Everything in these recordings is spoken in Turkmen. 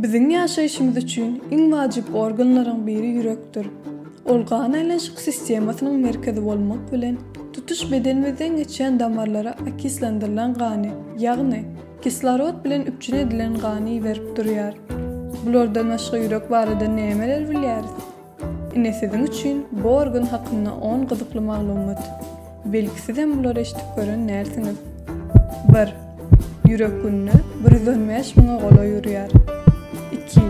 Biziň ýaşaýşymyz üçin iň wajyp organlaryň biri ýürekdir. Ol gan aýlanyşyk sistemasynyň merkezi bolmak bilen, tutuş bedenimizden geçýän damarlara okislendirlen gany, ýagny kislorod bilen üpjün edilen gany iberip durýar. Bulardan başga ýürek barada nämeler bilýäris? Ine siziň üçin bor gün hakynda on gyzykly maglumat. Belki sizem bulary eşidip gören dälsiňiz. Bir. Ýürek günde bir ýüz on bäş müňe golaý urýar. Iki.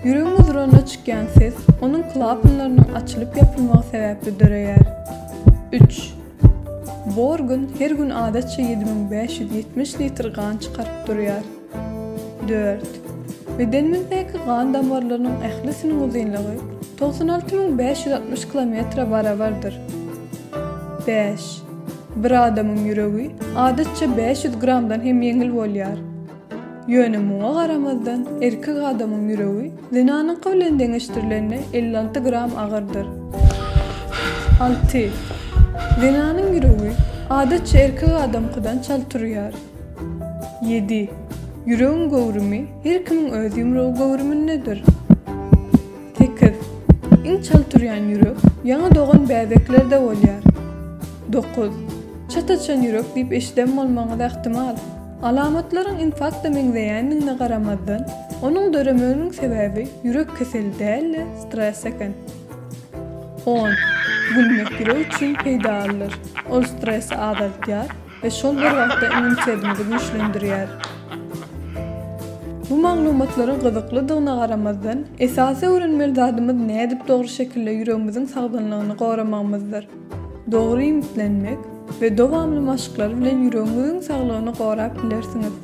Ýüregiň uzranda çykýan ses onuň klapanlarynyň açylyp ýapylmagy sebäpli döreýär. Üç. Bor gün her gün adatça ýedi müň bäş ýüz ýetmiş litr gan çykaryp durýar. Dört. Bedenimizdäki gan damarlarynyň ählisiniň uzynlygy togsan alty müň bäş ýüz altmyş kilometre barabardyr. Bäş. Bir adamyň ýüregi adatça bäş ýüz gramdan hem ýeňil bolýar. Ýöne muňa garamazdan erkek adamyň ýüregi zenanyňky bilen deňeşdirilende elli alty gram agyrdyr. Alty. Zenanyň ýüregi adatça erkek adamkydan çalt urýar. Ýedi. Ýüregiň göwrümi her kimiň öz ýumrugy göwrümindedir. Sekiz. Iň çal turýan ýürek ýaňy dogan bäbeklerde bolýar. Dokuz. Çat açan ýürek diýip eşiden bolmagyňyz ähtimal. Alamatlaryň infarkta meňzeýändigine garamazdan, onuň döremeginiň sebäbi ýürek keseli däl-de, stres eken. On. Gülmek ýürek üçin peýdalydyr. Ol stresi azaldýar, we şol bir wagtda immunitedimizi güýçlendirýär. Bu maglumatlaryň gyzyklydygyna garamazdan, esasy öwrenmeli zadymyz nädip dogry şekilde ýüregimiziň sagdynlygyny goramagymyzdyr. Dogry iýmitlenmek we dowamly maşklar bilen ýüregiňiziň saglygyny gorap bilersiňiz.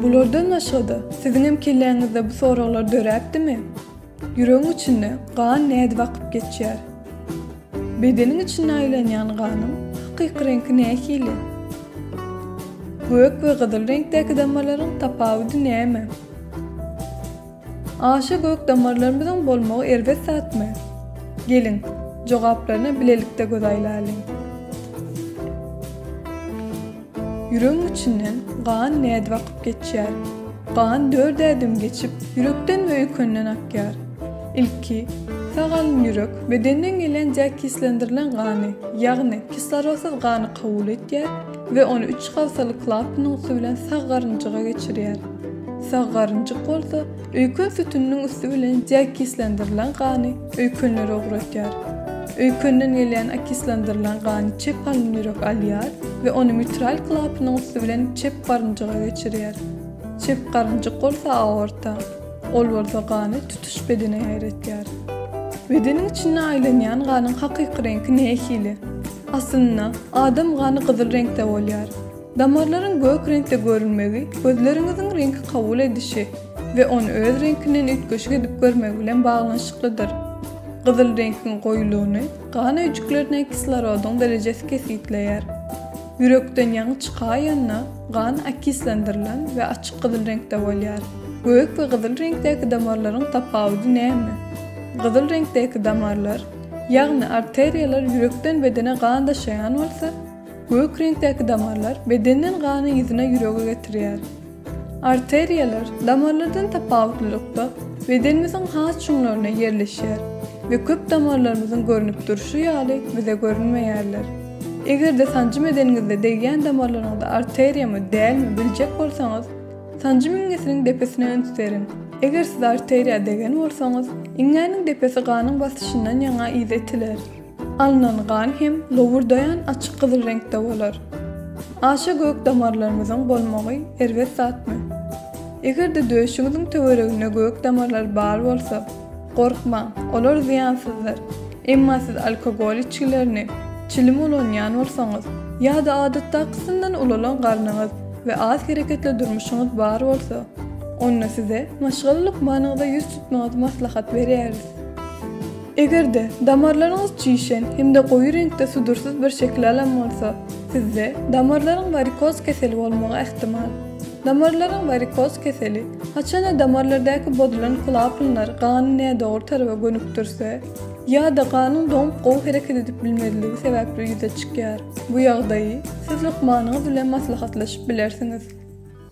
Bulardan başga-da, siziň hem kelläňizde bu soraglar döräpdimi? Ýüregiň içinde gan nädip akyp geçýär? Bedeniň içinde aýlanýan ganyň hakyky reňki nähili? Gök we gyzyl reňkdäki damarlaryň tapawudy näme? Aşa gök damarlarymyzyň bolmagy erbet zatmy? Geliň, jogaplaryna bilelikde göz aýlalyň. Ýüregiň içinden gan nädip akyp geçýär? Gan dört ädim geçip, ýürekden we öýkenden akýar. Ilki, sag alyn ýürek bedenden gelýän diakislendirilen gany, ýagny kislorodsyz gany kabul etýär we ony üç hafsaly klapanyň üsti bilen sag garynjyga geçirýär. Sag garynjyk bolsa, Öýken sütüniniň üsti bilen deokislandyrlan gany öýkenlere ugratýar. Öýkenden gelýän okislandyrlan gany çep halyn ýürek alýar we ony mitral klapanyň üsti bilen çep garynjyga geçirýär. Çep garynjyk bolsa aorta, ol bolsa gany tutuş bedene ýaýratýar. Bedeniň içinde aýlanýan ganyň hakyky reňki nähili? Aslynda, adam gany gyzyl reňkde bolýar. Damarlaryň gök reňkde görünmegi gözleriňiziň reňki kabul edişi we ony öz reňkinden üýtgeşik edip görmegi bilen baglanyşyklydyr. Gyzyl reňkiň goýulygyny gan öýjüklerine kislorodyň derejesi kesgitleýär. Ýürekden ýaňy çykaýanda gan okislendirlen we açyk gyzyl reňkde bolýar. Gök we gyzyl reňkdäki damarlaryň tapawudy näme? Gyzyl reňkdäki damarlar, ýagny arteriýalar ýürekden bedene gan daşaýan bolsa, Gök reňkdäki damarlar bedenden gany yzyna ýürege getirýär. Arteriýalar, damarlardan tapawutlylykda, bedenimiziň has çuňlaryna ýerleşýär we köp damarlarymyzyň görnüp durşy ýaly bize görünmeýärler. Eger-de sanjym edeniňizde degýän damarlaryňyzy arteriýamy, dälmi biljek bolsaňyz, sanjym iňňesiniň depesine üns beriň. Eger siz arteriýa degen bolsaňyz, iňňäniň depesi ganyň basyşyndan ýaňa yza itiler. Alnan gan hem lowurdaýan açyk gyzyl reňkde bolar. Aşa gök damarlarymyzyň bolmagy erbet zatmy? Eger-de döşüňiziň töwereginde gök damarlar bar bolsa, gorkmaň, olar zyýansyzdyr. Emma siz alkogol içgilerini, çilim ulanýan bolsaňyz ýa-da adatdakysyndan ulalan garnyňyz we az hereketli durmuşyňyz bar bolsa, onda size maşgala lukmanyňyza ýüz tutmagyňyzy maslahat berýäris. Eger-de, damarlaryňyz çişen hem-de goýy reňkde sudursyz bir şekil alan bolsa, sizde damarlaryň warikoz keseli bolmagy ähtimal. Damarlaryň warikoz keseli, haçan-da damarlardaky bozulan klapnlar gany nädogry taraba gönükdirse ýa-da ganyň doňup gowy hereket edip bilmezligi sebäpli ýüze çykýar. Bu ýagdaýy siz lukmanyňyz bilen maslahatlaşyp bilersiňiz.